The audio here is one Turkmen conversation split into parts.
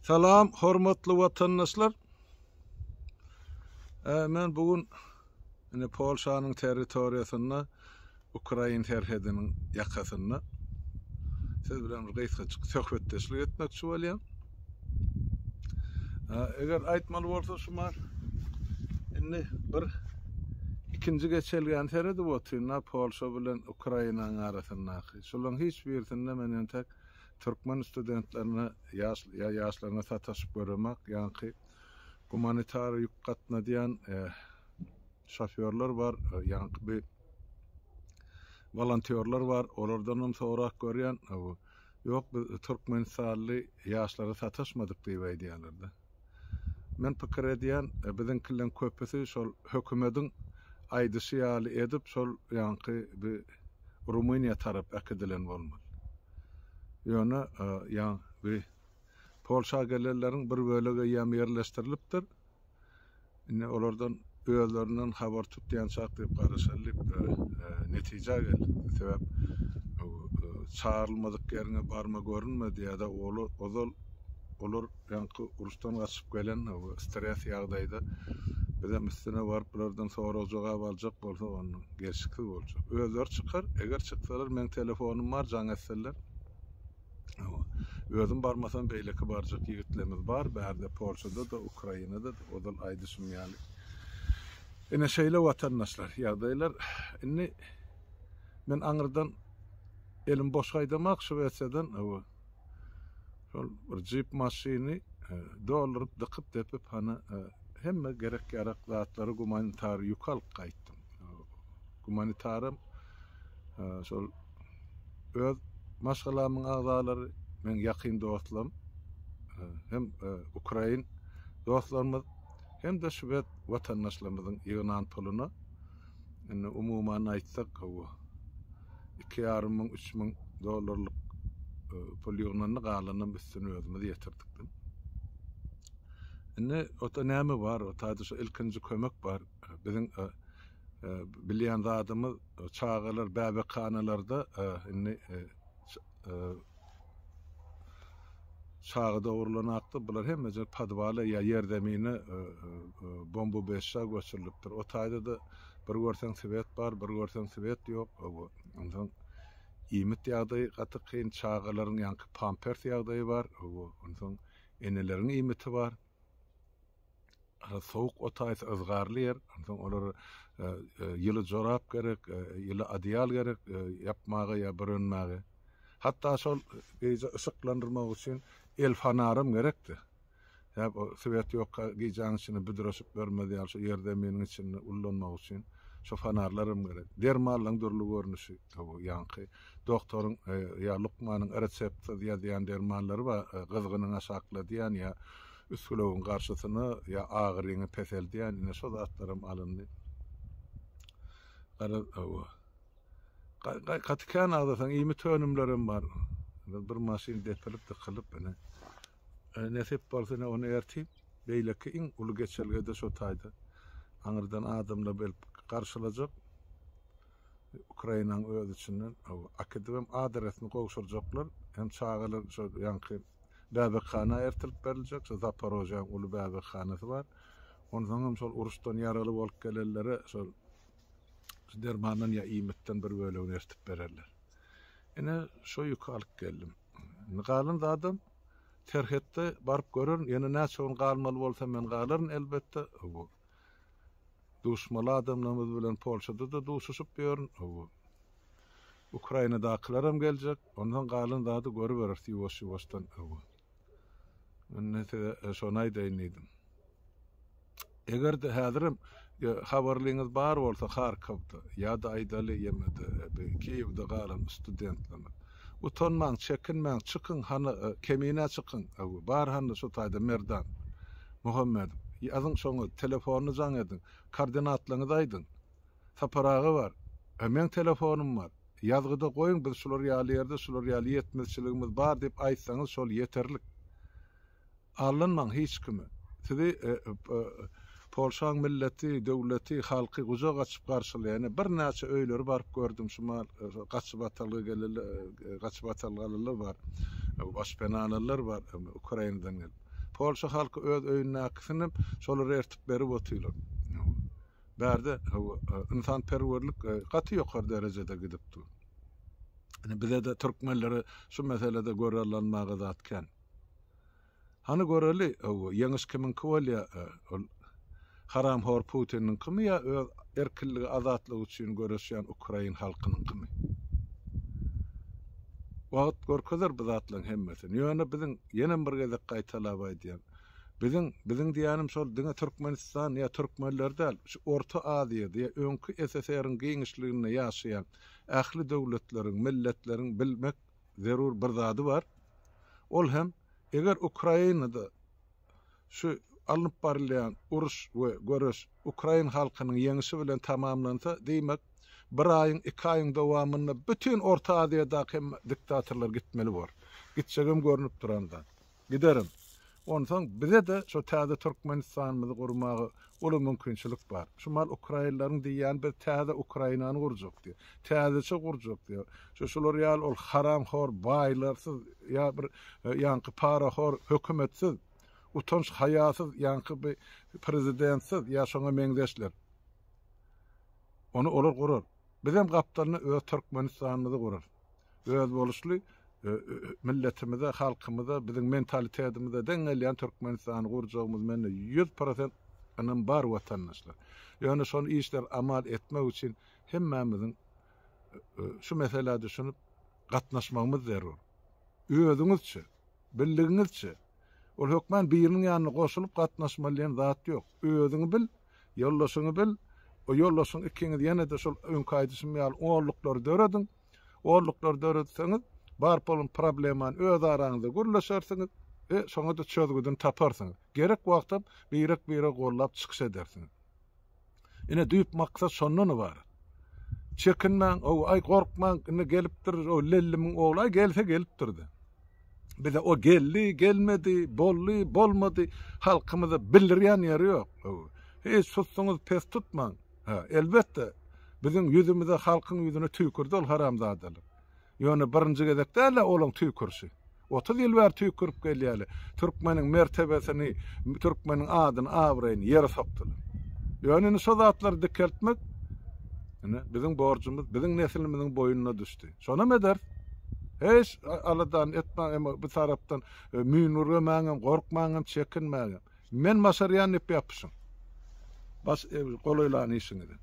Salam hormatly watandaşlar. Ee, men bugün ine Polşanyň territoriýasynda Ukrain serhediniň ýakasynda siz bilen bir gysgaçyk söhbetdeşlik etmekçi bolýan. Ee, eger aýtmaly bolsa şu mal indi bir ikinji geçelgäni seredip otyryn Polşa bilen Ukrainanyň arasyndaky. Şolaryň hiç birisinde men entek türkmen studentlerine ýa ýaşlaryna sataşyp göremak, ýaňky gumanitar ýük gatnadýan şofýorlar bar, ýaňky bi wolontýorlar bar, olardanam sorap görýän, ýok biz türkmenistanly ýaşlara sataşmadyk diýip aýdýarlar-da. Men pikir edýän, biziňkileriň köpüsi şol hökümediň aýdyşy ýaly edip şol ýaňky bi Rumyniýa tarap äkidilen bolmaly. Ýöne ýaň bi Polşa gelenleriň bir bölegi ýam ýerleşdirilipdir. Indi olardan özlerinden habar tutýançak diýip garaşaly diýip netijä geldik. Sebäp çagyrylmadyk ýeriňe barma görünme diýýärdi. Olar ozal olar ýaňky uruşdan gaçyp gelen stres ýagdaýda biz hem üstüne baryp bulardan sorag jogap aljak bolsa onda gelşiksiz boljak. Özleri çykar, eger çyksalar meň telefonym bar jaň etseler. Özüm barmasam beýleki barjak ýigitlerimiz bar, bärde Polşada-da, Ukrainada-da, ozal aýdyşym ýaly. Ine şeýle watandaşlar, ýagdaýlar. Indi men aňyrdan elim boş gaýdamak Şwesiýadan, hawa. Şol bir jip maşyny e, dolduryp, dykyp, depip, hany e, hemme gerek-ýarak zatlary gumanitar ýük alyp gaýtdym. Gumanitaram şol öz maşgalamyň agzalary, meň ýakyn dostlarym hem ukrain dostlarymyz hem-de şwed watandaşlarymyzyň ýygnan puluna indi umuman aýtsak gowy iki ýarym müň, üç müň dollarlyk pul ýygnandy, galanam üstüni özümiz ýetirdik diýip. Indi ota näme bar, ota şu ilkinji kömek bar. Biziň Bilýän zadymyz, çagalar bäbekhanalarda indi çaga dogrulanakdyr. Bular hemmeje podwala ýa ýerzemine bombubeşja göçürilipdir. O taýda-da bir görseň swet bar, bir görseň swet ýok. Onsoň iýmit ýagdaýy gaty kyn, çagalaryň ýaňky pampers ýagdaýy bar. Onsoň eneleriň iýmiti bar. sowuk otaýsa yzgarly ýer, onsoň olara e, e, ýyly jorap gerek, e, ýyly adyal gerek ýapmaga ýa bürünmäge. Hatda şol gije yşyklandyrmak üçin el fanaram gerekdi. Ýa o swet ýok, gijäň içinde büdreşip görmez ýaly şu ýer zeminiň içinde ullanmak üçin şu fanarlaram gerek. Dermanlaryň dürli görnüşi, bu ýaňky doktoryň ýa lukmanyň reseptsiz ýazýan dermanlary bar, gyzgynyň aşakladýan ýa Üsgülewüň garşysyna ýa agyryňy peseldýän ine şo zatlaram alyndy. Gara hawa. Gaý gaty kän agzasaň iýmit önümlerim bar. Bir maşyn depilip dykylyp ine. E, nesip bolsa ine ony ertip beýleki iň uly geçelgede şo taýda aňyrdan adamlar gelip garşylajak. Ukrainanyň öz içinden akidibem adresini gowşurjaklar. Hem çagalar şo ýaňky bäbekhana ertirip beriljek. Şo Zaporojýäň uly bäbekhanasy bar. Onsoň hem şol uruşdan ýaraly bolup gelenlere şol dermandan ýa iýmitden bir bölegini ertip bererler. Ine, şo ýüki alyp geldim. Indi galan zadam serhetde baryp görerin. Ýene näçe gün galmaly bolsa men galaryn elbetde. Duşmaly adamlarymyz bilen Polşada-da duşuşyp ýörün. Hawa. Ukrainadakylaram geljek. Ondan galan zady görüberis ýuwaş-ýuwaşdan. Hawa. Indi size şony aýdaýyn diýdim. Eger-de häzirem habarlyňyz bar bolsa Harkowda ýa-da aýdaly ýemede Kiýewde galan studentlerimiz. Utanmaň, çekinmäň, çykyň, hany, Kemine çykyň, öwi, bar hany şu taýda Merdan Muhammedow, ýazyň şoňa, telefonyny jaň ediň, koordinatlaryňyzy aýdyň, Sapar aga bar, e, meň telefonym bar, ýazgyda goýuň, biz şular ýaly ýerde şular ýaly ýetmezçiligimiz bar diýip aýtsaňyz şol ýeterlik. Aldanmaň hiç kimi. Sizi Polşaň milleti, döwleti, halky gujak açyp garşylaýar. Ene birnäçe öýleri baryp gördüm şumal gaçybatalga gelenler, gaçybatalgalylar bar. Başpenalylar bar Ukrainadan gelip. Polşa halky öz öýündäkisini hem şolar ertip berip otyrlar. Bärde ynsanperwerlik gaty ýokary derejede gidip dur. Ene bizede türkmenlere şu meselede görallanmaga zat kän. Hany göreli ow ýeňiş kimiňki bolýa ol haramhor Putiniňkimi ýa öz erkinligi azatlygy üçin göreşýän ukrain halkynyňkymy. Wagt görkezer bu zatlaryň hemmesini. Ýöne biziň ýenem bir gezek gaýtalap aýdýan biziň biziň diýýänim şol diňe Türkmenistan ýa türkmenler däl şu Orta Aziýada ýa öňki SSR-iň giňişliginde ýaşaýan ähli döwletleriň, milletleriň bilmek zerur bir zady bar. Ol hem eger Ukrainada şu alnyp barylýan uruş we göreş ukrain halkynyň ýeňişi bilen tamamlansa, diýmek, bir aýyň, iki aýyň dowamynda bütin Orta Aziýadaky hemme diktatorlar gitmeli bor. Gitjegem görnüp duran zat. Giderin. Onsoň bize-de şo täze Türkmenistanymyzy gurmaga uly mümkinçilik bar. Şu mal ukrainleriň diýýäni biz täze Ukrainany gurjak diýýär. Täzeçe gurjak diýýär. Şu şular ýaly ol haramhor baýlarsyz ýa bir ýaňky parahor hökümetsiz, utanç haýasyz ýaňky bi prezidentsiz ýa şoňa meňzeşler. Ony olar gurar. Bizem gapdalyna öz Türkmenistanymyzy gurarys. özboluşly milletimize, halkymyza, biziň mentalitetimize deň gelýän Türkmenistany gurjagymyz mende ýüz prosent ynam bar watandaşlar. Ýöne şony işler amal etmek üçin hemmämiziň şu meselä düşünip gatnaşmagymyz zerur. Özüňizçe, birligiňizçe, ol hökman biriniň ýanyna goşulyp gatnaşmaly diýen zat ýok. Özüňi bil, Ýoldaşyňy bil, o ýoldaşyň ikiňiz ýene-de şol öňki aýdyşym ýaly onluklary dörediň. Onluklary döretseňiz, bar bolan problemany öz araňyzda gürleşersiňiz we şoňa-da çözgüdini taparsyňyz. Gerek wagtam birek-biregi gollap çykyş edersiňiz. Ine, düýp maksat şondan ybarat. Çekinmäň, ow, aý, gorkmaň, indi gelipdir, o Lellimiň ogly, aý, gelse gelipdir-de. Bize o geldi, gelmedi, boldy, bolmady, halkymyza bildirýän ýeri ýok. Hiç susuňyz pes tutmaň. Ha, elbetde, biziň ýüzümize, halkyň ýüzüne tüýkürdi ol haramzadalar. Ýöne birinji gezek däl-ä olaň tüýkürşi. Otuz ýyl bäri tüýkürip gelýärler. Türkmeniň mertebesini, türkmeniň adyny, abraýyny ýere sokdular. Ýöne indi şo zatlary dikeltmek ine biziň borjumyz, biziň neslimiziň boýnuna düşdi. Şonam ederis. Hiç aladany etmäň, emma bir tarapdan e, müýnürgemäň hem, gorkmaň hem, çekinmäň hem. Men başarýan diýip ýapyşyň. Baş, e, golaýlan işiňizi.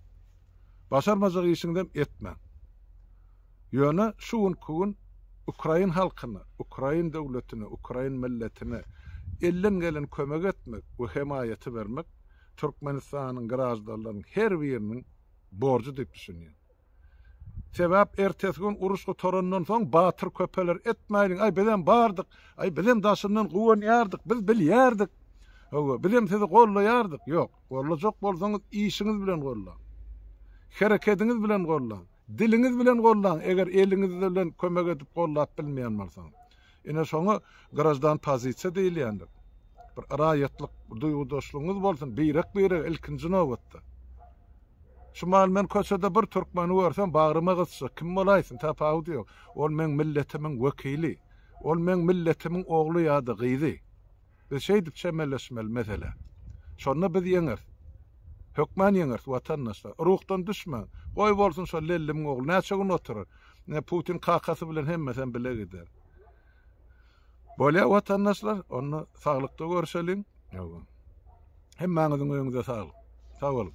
Başarmajak işiňizem etmäň. Ýöne şu günki gün ukrain halkyna, ukrain döwletine, ukrain milletine elden gelen kömek etmek we hemaýaty bermek Türkmenistanyň graždanlarynyň her biriniň borjy diýip düşünýän. Sebäp ertesi gün uruş gutarandan soň batyr köpeler etmäliň-aý bizem bardyk, aý bizem daşyndan guwanýardyk, biz bilýärdik, hawa bizem sizi gollaýardyk, ýok, gollajak bolsaňyz işiňiz bilen gollaň, herekediňiz bilen gollaň, diliňiz bilen gollaň eger eliňiz bilen kömek edip gollap bilmeýän bolsaňyz. Ine şoňa grajdan pozisiýa diýilýändir. Bir raýatlyk duýgudaşlygyňyz bolsun, birek-birege ilkinji nobatda. Şu maly men köçede bir türkmeni görsem, bagryma gysjak, kim bolaýsyn, tapawudy ýok. Ol meň milletimiň wekili. Ol meň milletimiň ogly ýa-da gyzy. Biz şeýdip çemeleşmeli meselä. Şonda biz ýeňeris. Hökman ýeňeris watandaşlar. Ruhdan düşmäň. Goý bolsun şo Lellimiň ogly näçe gün oturar. Ine Putin kakasy bilen hemmesem bile gider. Bolýa watandaşlar, onda saglykda görüşeliň. Ýoga. Hemmäňiziň öýüňize saglyk. Sag boluň.